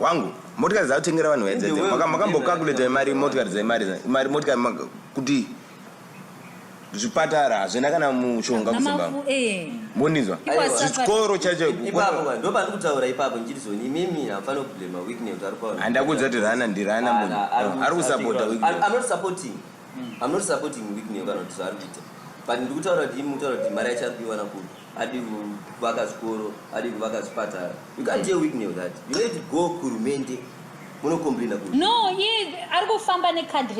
wangu motikari dzakutengera vanhu vaye dzedze makambokakuleta mari motikari dzemari mari motikari kuti zvipatara hazvina kana mushonga kuzimbabwe eh. mondinzwa chikoro chacho ndopandikutaura ipapo ndichirizoni imimi hamufanira kublema weakness kuti ari kwaona handakudza kuti rana ndirana munhu ari kusapota weaknessamnotsupporting hmm. kana kuti zvaari kuita but ndikutaura kuti imi mutaura kuti mari yacho ari kuiwana kupi adi kuvaka zvikoro adi kuvaka zvipatara you can't deal with me with that you need to go kuhurumende munocomplaina ku no iye ari kufamba necard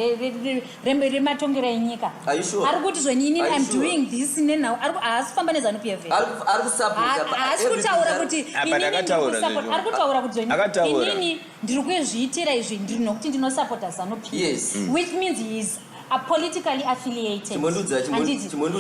rematongero enyika ari kuti zvenyini im doing this nenhau haasi kufamba nezanu p f haasi kutaura kuti ari kutaura kuti zvenyini inini ndiri kuzviitira izvi ndiri nokuti ndinosapota zanu p which means he is are politically affiliated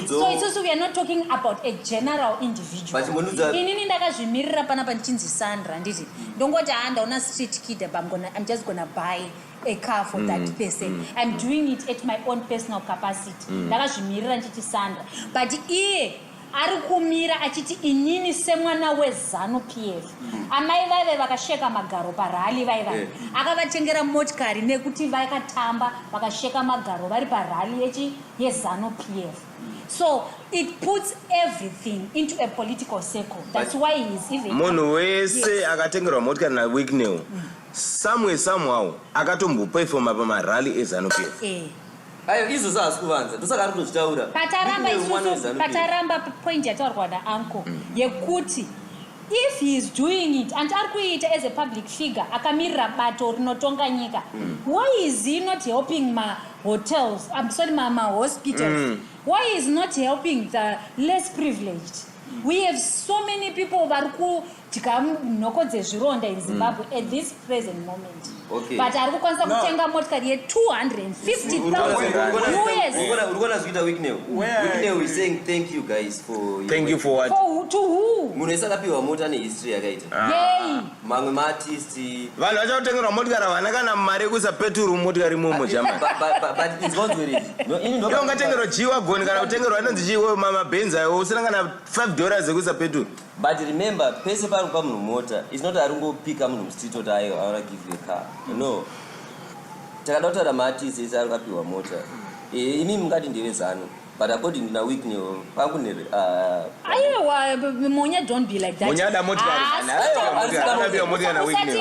so isusu we are not talking about a general individual inini ndakazvimirira pana pandichinzi sandra handiti ndongoti haa ndaona street kid apa i'm just gonna buy a car for mm, that person mm, i'm mm. doing it at my own personal capacity mm. ndakazvimirira mm. ndichiti sandra but iye ari kumira achiti inini semwana wezanu p f mm. amai vaive vakasheka magaro parali vaiva eh. akavatengera motikari nekuti vakatamba vakasheka magaro vari parali yechi yezanu p f mm. so it puts everything into a political circle thats why he is even munhu wese akatengerwa motikari nawicknel mm. somewhere somehow akatombopefoma pamarali ezanu p f eh. Ayo izvo zvaasi kuvanza ndosaka ari kutozvitaura. Pataramba isusu pataramba point yataurwa naanko mm. yekuti if he is doing it and ari kuiita as a public figure akamirira bato rinotonga nyika mm. why is he not helping ma hotels I'm sorry ma, ma hospitals mm. why is not helping the less privileged We have so many people vari kudya nhoko dzezvironda in Zimbabwe mm. at this present moment. Okay. But ari kukwanisa no. kutenga motikari ye 250,000 Wicknell. Wicknell is saying thank you guys for Thank you for what? For, to who? Munhu esakapiwa mota ne history yakaita. Ah. Yay. mamwe maartist vanhu vachakutengerwa motikari havana kana mari yekusapeturwa mumotikari imomo jamani But- but- but- but it's not with it. No, ini ndo- Iwe ungatengerwa jiwa goni kana kutengerwa inonzi chiwo mamabenzi ayo usina kana 5 dollars ekusapeturwa but remember pese pari kupa munhu mota its not ari ngopika munhu mustreet oti ayo i wanna give you a car no takada kutaura maartist ese ari kapiwa mota Eh, imi mungati ndeve zanu But according na Whitney, pakune uh, Ayewa Monya don't be like that. Monya ada motikari. Anapiwa motikari na Whitney.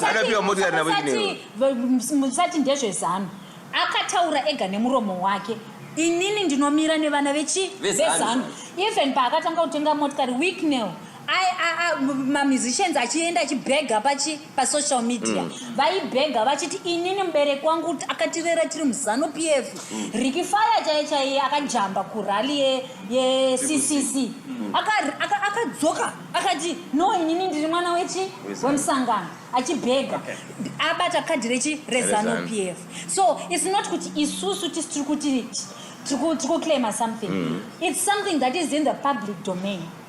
Anapiwa motikari na Whitney. Musati ndezve zano. Akataura ega nemuromo wake. Inini ndinomira nevana vechi vezano. Even paakatanga kutenga motikari Wicknell ai mamusicians achienda achibhega pachi pasocial media mm. vaibhega vachiti inini mubereki wangu akatirera tiri muzanu p f mm. riki faya chaiye chaiye akajamba kurali yeccc mm. akadzoka akati no inini ndiri mwana wechi wemusangano achibhega abata kadhi rechi rezanu p f so its not kuti isusu tisi tiri kuti tiri kuclaima something its something that is in the public domain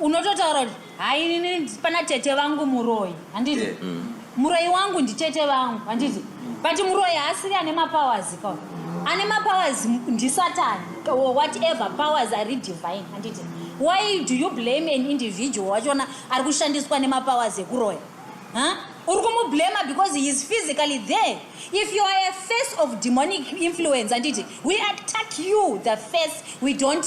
unototaura kuti hai inini pana tete vangu muroyi handiti yeah. mm. muroyi wangu nditete vangu handiti mm. but muroyi haasiri ane mapowers ka ane mapowers ndisatani or whatever powers ari divine handiti why do you blame an individual wachiona ari kushandiswa nemapowers ekuroya huh? uri kumublema because he is physically there if you are a face of demonic influence handiti we attack you the face we don't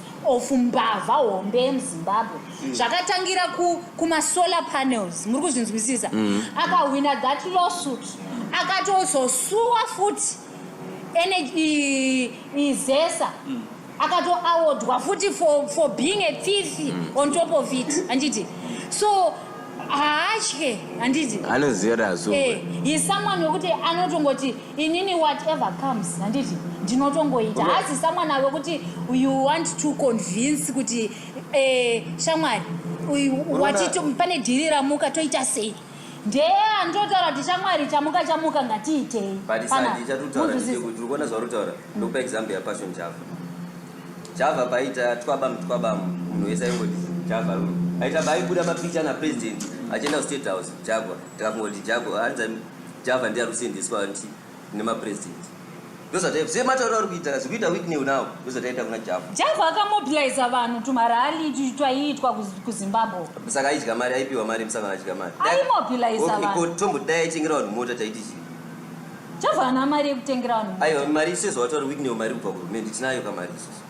of mbavha hombe yemuzimbabwe mm. zvakatangira kumasolar panels muri kuzvinzwisisa mm. akahwina that lawsuit akatozosuwa futi izesa mm. akatoawodwa futi for, for being a thief mm. on top of it handiti so haatye handiti anoziva kuti azoe eh, he someone wekuti anotongoti inini whatever comes handiti ndinotongoita hasi someone ave kuti you want to convince kuti eh, shamwari pane dhiri ramuka toita sei ndee andinotaura kuti shamwari chamuka chamuka ngatiitei uona zvauritaura ndokupa example yapassion java java paita twaba mutwaba munhu wese aingoti java aita baibuda mapicha napresident achienda kustate house jagwa tikakungoti jagwa Java ndiye arikusendeswa anti nema president. Ndozvataiva zve mataura ari kuita zvikuita Whitney now ndozvataita kuna Java. Java akamobilizer vanhu tumarali twaiitwa kuZimbabwe. Saka aidya mari aipiwa mari musangano aidya mari. Aimobilizer vanhu. Okay, ko tombo dai aitengera vanhu mota taiti chii? Java ana mari yekutengera vanhu mota. Aiwa mari sezvawataura Whitney mari kubva kuhurumende tinayo kamari isusu.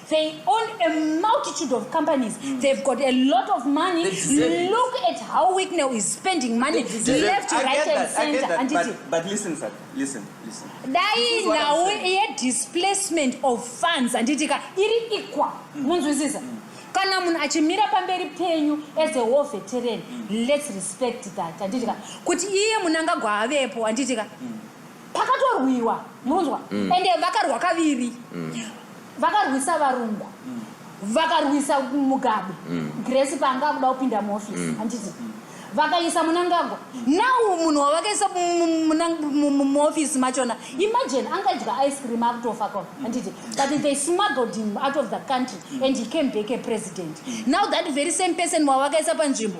They own a multitude of companies. Mm. They've got a lot of money. Look at how Wicknell is spending money left, I right, and center. That, but, but listen, sir. Listen, listen. Dai now a displacement of funds and it iri equal. Mm. Munzwisisa. Mm. kana munhu achimira pamberi penyu as a war veteran mm. let's respect that anditika kuti iye munangagwa avepo anditika mm. pakatorwiwa munonzwa mm. ende vakarwa kaviri mm. vakarwisa varungu mm. vakarwisa mugabe mm. grace paanga akuda kupinda muofisi mm. handiti mm. vakaisa munangagwa now munhu wavakaisa muofisi machona imagine angadya ice cream akutofa ko handiti but they smuggled him out of the country and he came back a president now that very same person wavakaisa panzvimbo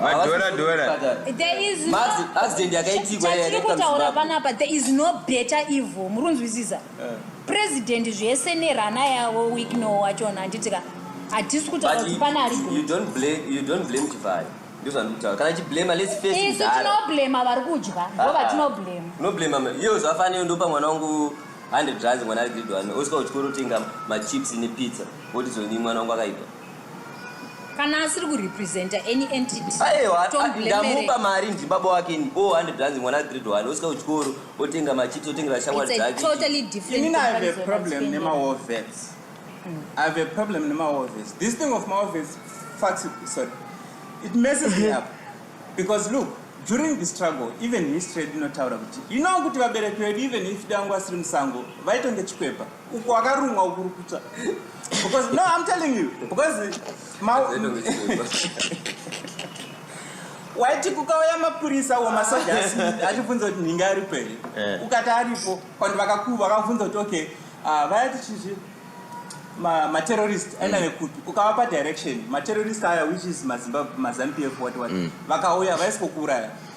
madhora dhora accident yakaitikwa chatiri kutaura panapa there is no better evil muri kunzwisisa eh. president zvese nerana yavo week no wachona handitika hatisi kutaura kuti pane ari kana chiblema lesisu tinoblema vari kudya ndo ah, ah. vatinoblema unoblema iyo zvafaneo ndopa mwana wangu 100 rands mwana ari grade one osvika kuchikoro otenga machips nepizza woti zoni mwana wangu akaipa kana asiri kurepresenta any entityaiwaandamupa mari ndibaba wake ni o hundred ranzi mwana grade one osvika kuchikoro otenga machiti otengera shamwari dzakeimini have a problem nemaovets mm. i have a problem nemaovets this thing of maovets fax sorry it messes me up because look during the struggle even history dinotaura kuti you know kuti vabereki vedu even if dangu asiri musango vaitonge chikwepa uko akarumwa ukurukuta because no i'm telling you because waiti kukauya mapurisa wo masoja asi achibvunza kuti nhinga ari pei eh. ukati aripo kwandi vakakuva vakabvunza kuti okay ah, vaya tichizvi materrorist ma aina mm. nekupi ukavapa direction materrorist aya which is mazanupf what what mm. vakauya vaisikokuuraya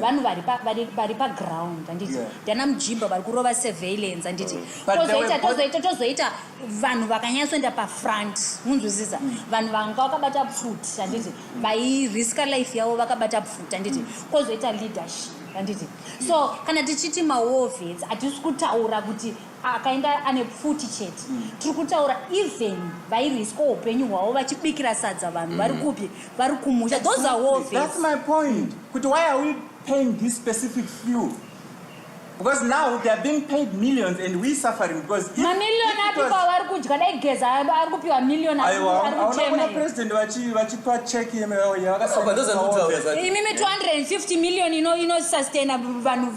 vanhu vari paground anditi ndana mujimba vari kurova surveillance anditi tozoita tozoita tozoita vanhu vakanyatsoenda pafront munzwisisa mm. vanhu vanga vakabata pfuti anditi mm. vairiska life yavo vakabata pfuti anditi mm. kozoita leadership anditi so kana tichiti maovens hatisi kutaura kuti akainga ane pfuti chete mm. tiri kutaura even vairwiswa upenyu hwavo vachibikira sadza vanhu mm. vari kupi vari kumusha those are war that's my point mm. kuti why are we paying this specific few because now they are being paid millions and we suffering because mamillion api kwavari kudya dai geza ari kupiwa million aona president vachipa check yemiyakasaaimi 250 million inosustaina vanhu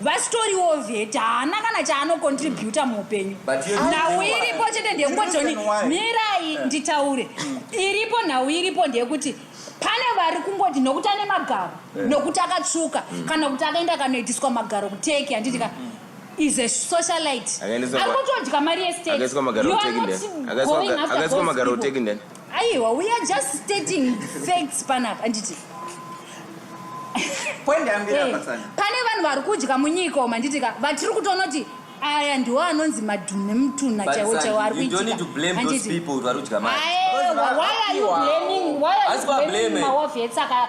vasitoriwo vet haana kana chaanocontributa muhupenyu nhau iripo chete ndeyekungojoni mirai eh. nditaure iripo nhau iripo ndeyekuti pane vari kungoti nokuti ane magaro eh. nokuti akatsvuka mm. kana kuti akaenda kanoitiswa magaro kuteki handiti ka mm, mm. is a socialite ari kutodya mari yesteti you are not going after those people aiwa we are just stating facts panapa anditi eh, pane vanhu vari kudya munyika oma nditi ka vatiri kutoona kuti aya ndiwo anonzi madhunu nemutunha chaiwo chaiwo ari kuitikaaiwa why are you blaming why are you blaming mawavhetsaka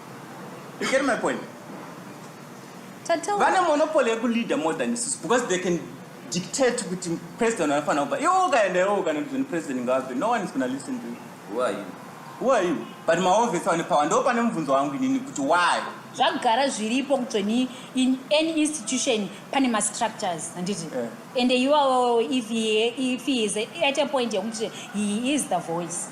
You get my point? Tatoa. Vane monopoly yekuleader more than isusu because they can dictate kuti president anofanira kupa iwo ukaenda iwo ukanoti zveni president ngavabve no one is gonna listen to you Who are you? who are you but maovhesi ane power ndo pane mubvunzo wangu inini kuti why zvagara zviripo kutsveni in any institution pane mastructures handiti Eh. and iwawo if he, if he is at a point yekuti he is the voice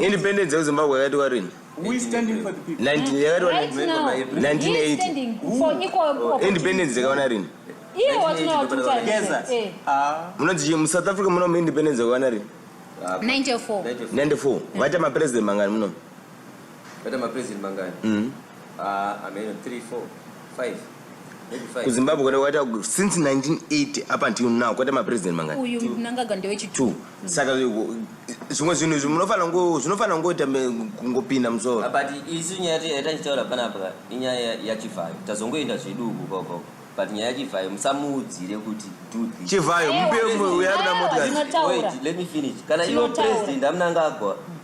independence yezimbabwe yakaitwa rini independence dzakaona rini munonzi musouth africa muno muindependence dzakaona rini 94 94 vaita mapresident mangani munomu Vata mapresident mangani? Mm. Ah, uh, ameno 3 4 5 kuzimbabwe kwata kwaita since 1980 up until now kwaita mapresident mangani uyu mnangaga ndewechitwo mm. saka zvimwe zvinhu izvi munofanira ngo zvinofanira ngoita kungopinda musoro ah, but isu nyaya yatachitaura panapa inyaya yachivhayo tazongoenda zveduku koko but nyaya chivhayo musamuudzire kuti chivhayo mupe uya ruda motikati let me finish kana iwo president amunangagwa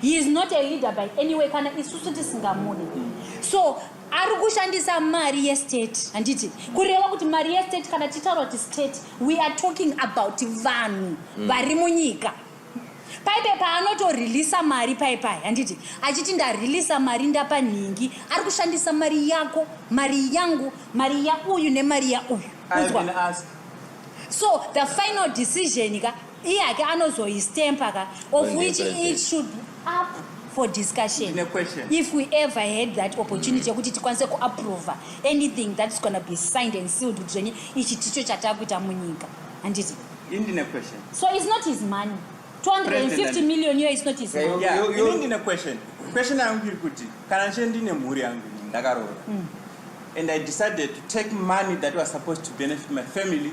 He is not a leader by any way kana isusu tisingamude. So ari kushandisa mari yestate handiti kureva kuti mari yestate kana tichitaura kuti state we are talking about vanhu mm. vari munyika paipe paanotoreleasa mari paipai handiti achiti ndareleasa mari ndapa nhingi ari kushandisa mari yako mari yangu mari yauyu nemari yauyu so the final decision ka Iye hake anozoistemper ka of which it should up for discussion if we ever had that opportunity yekuti tikwanise kuapprova anything that's gonna be signed and sealed kuti zvenye ichi ticho chatakuita munyika handiti indine question so it's not his money 250 million iyo is not his money yeah, yeah, yeah. indine question question yangu iri kuti kana nche ndine mhuri yangu ndakaroora mm. and i decided to take money that was supposed to benefit my family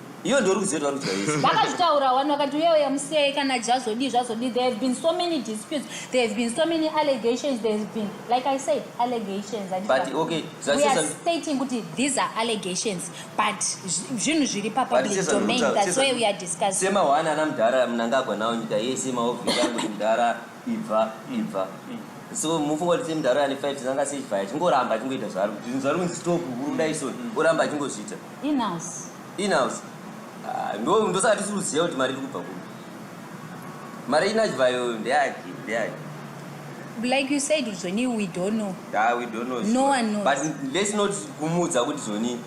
iyo ndo rudzio tvarudya yese vakazvitaura wani vakati uye uya musei kana jazodii zvazodii there have been so many disputes there have been so many allegations there has been like i said allegations but okay we are stating kuti these are allegations but zvinhu zviri pa public domain that's why we are discussing sema wani ana mudhara mnangagwa nawo nyika yese maovhiri anoti mudhara ibva ibva so mufunga kuti semudhara ane five anga sei vaya chingoramba achingoita zvaro zvinhu zvaro kunzi stop hurunda isoni oramba achingozviita Inhouse. Inhouse. Ah, ndo ndosaka tisi kuziva kuti mari iri kubva kupi. Mari inachvayo ndeyaki ndeyaki. Like you said Zoni we don't know. Yeah, we don't know. No one knows. But let's not kumudza kuti Zoni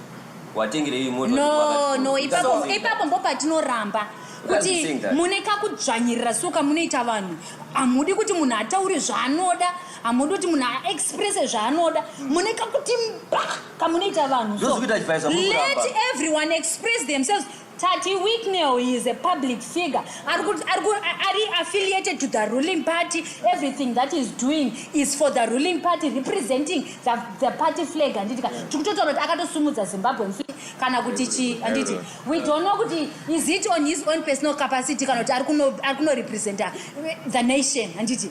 watengerei moto. No, no, ipapo ipapo mbo patinoramba. kuti mune kakudzvanyirira so kamunoita vanhu hamudi kuti munhu ataure zvaanoda hamudi kuti munhu aexpresse zvaanoda hmm. mune kakuti mba kamunoita vanhu so let everyone express themselves tati wicknel is a public figure ari affiliated to the ruling party everything that is doing is for the ruling party representing the, the party flag handitika tikutotaura kuti akatosumudza zimbabwe mfi kana kuti chi handiti we don't know kuti is it on his own personal capacity kana kuti ari kunorepresenta the nation handiti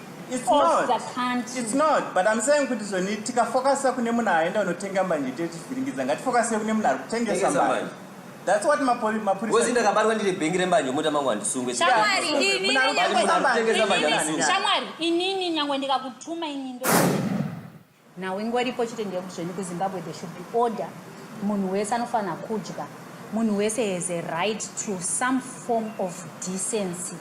It's not. It's not. But I'm saying kuti zvoni tikafokasa kune munhu aenda unotenga mbanje tichivhiringidza ngatifokase kune munhu ari kutengesa mbanje. That's what mapuri mapuri. Wezi ndakabarwa ndiri bengi rembanje muta mangu andisungwe. Shamwari inini nyangwe. Shamwari inini nyangwe ndikakutuma inini ndo. Nhau ingoripo chete ndeyekuti zvenyu kuZimbabwe there should be order. Munhu wese anofanira kudya. Munhu wese has a right to some form of decency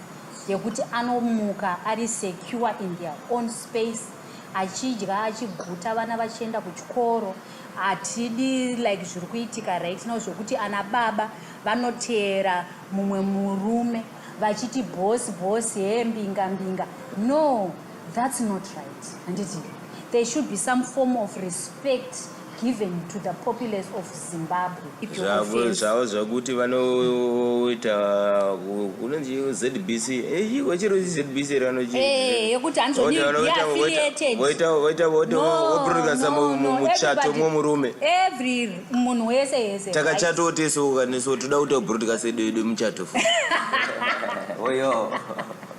yekuti anomuka ari secure in their own space achidya achiguta vana vachienda kuchikoro hatidi like zviri kuitika right now zvekuti ana baba vanoteera mumwe murume vachiti bhosi bhosi hee mbinga mbinga no That's not right handiti there should be some form of respect given to the populace of zimbabwe zvavo zvakuti vanoita unonzi zbc chiko chiro zbc ranoyekuti hanzvoitaomuchato mwo murume munhu wese yese takachatawo tese ukaneso toda kuita broadcast edu yedu muchato oyo